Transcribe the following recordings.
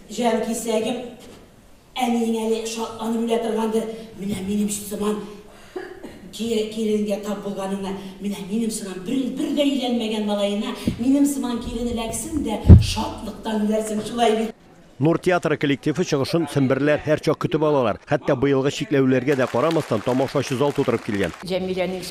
Җанкисәгем, әниең әле шатланып үлә торгандыр, менә минем сыман киленгә тап булганыңа, менә минем сыман бер, бер дә өйләнмәгән малаена, минем сыман килен эләксен дә, шатлыктан үләрсең, шулай бит. Нур театры коллективы чыгышын семберләр һәрчак көтеп алалар. Хәтта быелгы чикләүләргә дә карамастан, тамашачы зал тутырып килгән. Җәмиләнең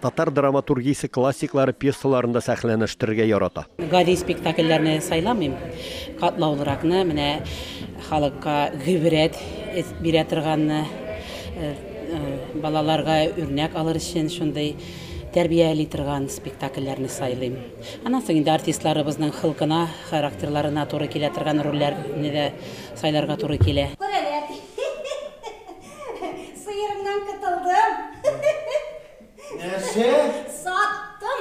Татар драматургиясе классиклары пьесаларын да сәхнәләштерергә ярата. Гади спектакльләрне сайламыйм. Катлаулыракны, менә халыкка гыйбрәт бирә торганны, балаларга үрнәк алыр өчен шундый тәрбияли торган спектакльләрне сайлыйм. Аннан соң инде артистларыбызның холкына, характерларына туры килә торган рольләрне дә сайларга туры килә. Сыерымнан котылдым. Нәрсә? Саттым.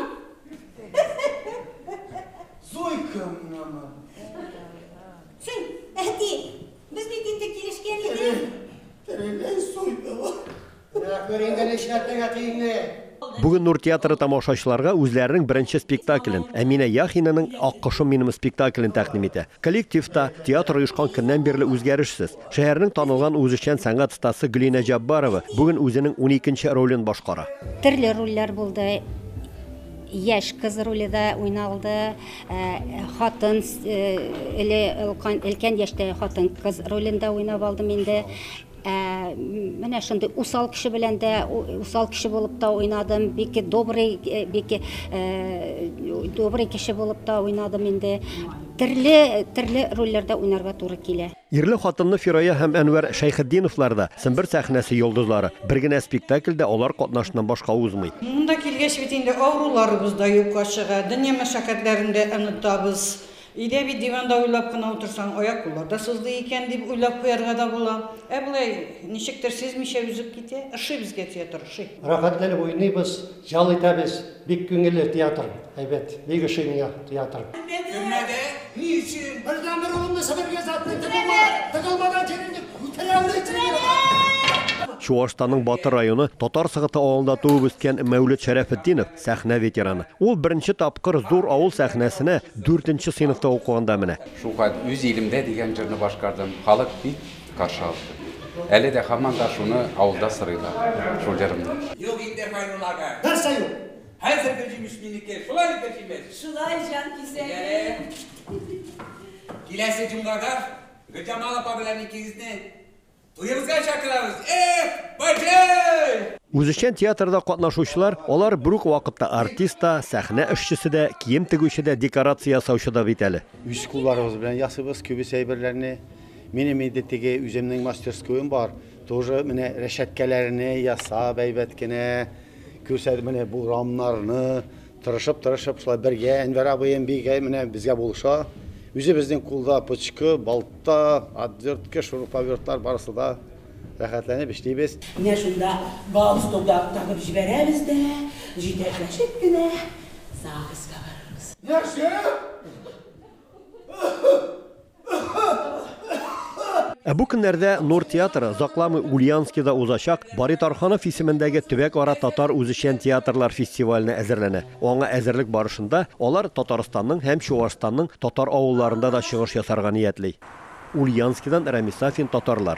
Зуйкамнамы? Син, әти, без бит инде килешкән идек. Тереләй суйдылар. Ә күр инде нишләтергә тиңне. Бүген Нур театры тамашачыларга үзләренең беренче спектаклен, Әминә Яхинаның Аккошым минем спектаклен тәкъдим итә. Коллектив та, театр оешкан көннән бирле үзгәрешсез. Шәһәрнең танылган үзешчән сәнгать остасы Гөлинә Җаббарова бүген үзенең уникенче ролен башкара. Төрле рольләр булды. Яшь кыз роле дә уйналды, э, хатын, э, эле өлкән, өлкән яшьтә хатын кыз ролен дә уйнап алдым инде. Ә, менә шундый усал кеше белән дә усал кеше булып та уйнадым, бик добрый, э, бик э, добрый кеше булып та уйнадым инде. Төрле, төрле рольләрдә уйнарга туры килә. Ирле-хатынлы Фирая һәм Әнвәр Шәйхетдиновлар да, Сембер сәхнәсе йолдызлары. Бер генә спектакль дә алар катнашыннан башка узмый. Монда килгәч бит инде авыруларыбыз да юкка чыга, дөнья мәшәкатьләрен дә онытабыз. Өйдә бит диванда уйлап кына утырсаң, аяк-куллар да сыздый икән, дип уйлап куярга да була. Ә болай, ничектер сизмичә өзеп китә. Ошый безгә театр, ошый. Рәхәтләнеп уйныйбыз, ял итәбез. Бик күңелле театр, әйбәт. Бик ошый миңа театр. Көннәдә ни өчен? Бердән бер улымны себер газәтенә тыгылмаган, тыгылмаган җирен дип күтәрәләр сине! Чуашстанның Батыр районы Татар Сыгыты авылында туып үскән Мәүлет Шәрәфетдинов, сәхнә ветераны. Ул беренче тапкыр зур авыл сәхнәсенә дүртенче сыйныфта укыганда менә. Шулкадәр үз илемдә дигән җырны башкардым. Халык бик каршы алды. Әле дә һаман да шуны авылда сорыйлар, шул җырымны. Юк инде, Файрулла ага. Нәрсә юк? Хәзерге җимеш минеке, шулай инде җимеш. Шулай, җан кисәгем. Киләсе җомгага Гөлҗамал апа белән икегезне туебызга чакырабыз. Эх, баҗый! Үзешчән театрда катнашучылар, алар бер үк вакытта артист та, сәхнә эшчесе дә, кием тегүче дә, декорация ясаучы да бит әле. Үз кулларыбыз белән ясыйбыз күбесе әйберләрне. Минем инде теге үземнең мастерскоем бар. Тоже менә рәшәткәләрне ясап әйбәт кенә күрсәтеп менә бу рамнарны тырышып тырышып шулай бергә Әнвәр абыем бик менә безгә булыша. Үзе безнең кулда пычкы, балта, отвертка, шуруповертлар барысы да рәхәтләнеп эшлибез. Менә шунда галстукта тагып җибәрәбез дә җитәкләшеп кенә ЗАГСка барырбыз. Нәрсә? Ә бу көннәрдә Нур театры озакламый Ульянскида узачак Бари Тарханов исемендәге төбәк-ара татар үзешчән театрлар фестиваленә әзерләнә. Аңа әзерлек барышында алар Татарстанның һәм Чуашстанның татар авылларында да чыгыш ясарга ниятли. Ульянскидан Рәмис Сафин Татарлар.